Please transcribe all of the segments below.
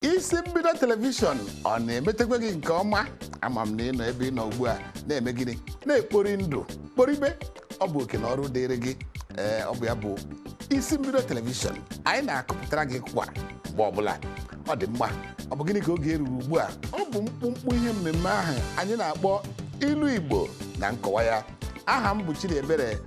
isi mbido telivishọn ọ na-emetekwa gị nke ọma ama m na ị nọ ebe ị nọ ugbu a na-eme gịnị na-ekpori ndụ kporibe ọ bụ oke na ọrụ dịrị gị ee ọ bụ ya bụ isi mbido telivishọn anyị na-akụpụtara gị kwa mgbe ọbụla ọ dị mma ọ bụ gịnị ka oge eruru ugbu a ọ bụ mkpụmkpụ ihe mmemme ahụ anyị na-akpọ ilu igbo na nkọwa ya aha m bụ Chidiebere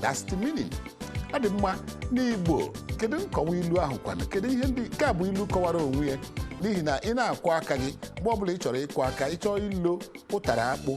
that's the meaning ọ dị mma n'igbo kedu nkọwa ilu ahụ kwanụ kedu ihe ndị nke a bụ ilu kọwara onwe ya n'ihi na ị na-akwọ aka gị mgbe ọbụla ị chọrọ ịkwọ aka ị chọọ ilo ụtara akpụ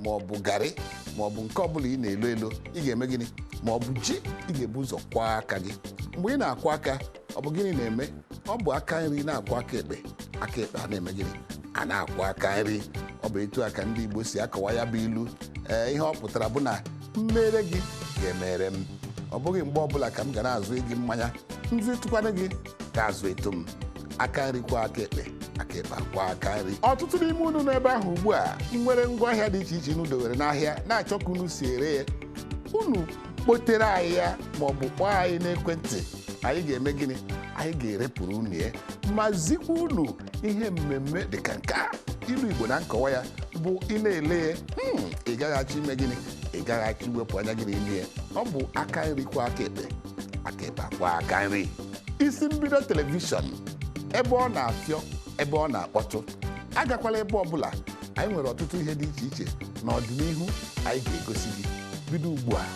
ma ọ bụ garị ma ọ bụ nke ọbụla ị na-elo elo ị ga-eme gịnị ma ọ bụ ji ị ga-ebu ụzọ kwọọ aka gị mgbe ị na-akwọ aka ọ bụ gịnị na-eme ọ bụ aka nri na-akwọ aka ekpe aka ekpe a na-eme gịnị a na-akwọ aka nri ọ bụ etu a ka ndị Igbo si akọwa ya bụ ilu ee ihe ọ pụtara bụ na m meere gị ị ga-emere m ọ bụghị mgbe ọbụla ka m ga na-azụ gị mmanya m zụtụkwanụ gị ị ga-azụtụ m aka nri kwọọ aka ekpe aka ekpe akwọọ aka nri ọtụtụ n'ime unu n'ebe ahụ ugbu a nwere ngwaahịa dị iche iche unu dowere n'ahịa na-achọ ka unu si ere ya unu kpotere anyị ya ma ọ bụ kpọọ anyị n'ekwentị anyị ga-eme gịnị anyị ga-erepụrụ unu ya ma zikwa unu ihe mmemme dị ka nke a ilu igbo na nkọwa ya bụ ị na-ele ya hmm, ị gaghị achọ ime gịnị ị gaghị achọ iwepụ anya gị n'ime ya ọ bụ aka nri kwọọ aka ekpe aka ekpe akwọọ aka nri isi mbido telivishọn ebe ọ na-afịọ ebe ọ na-akpọtụ agakwala ebe ọbụla anyị nwere ọtụtụ ihe dị iche iche n'ọdịnihu anyị ga-egosi gị bido ugbu a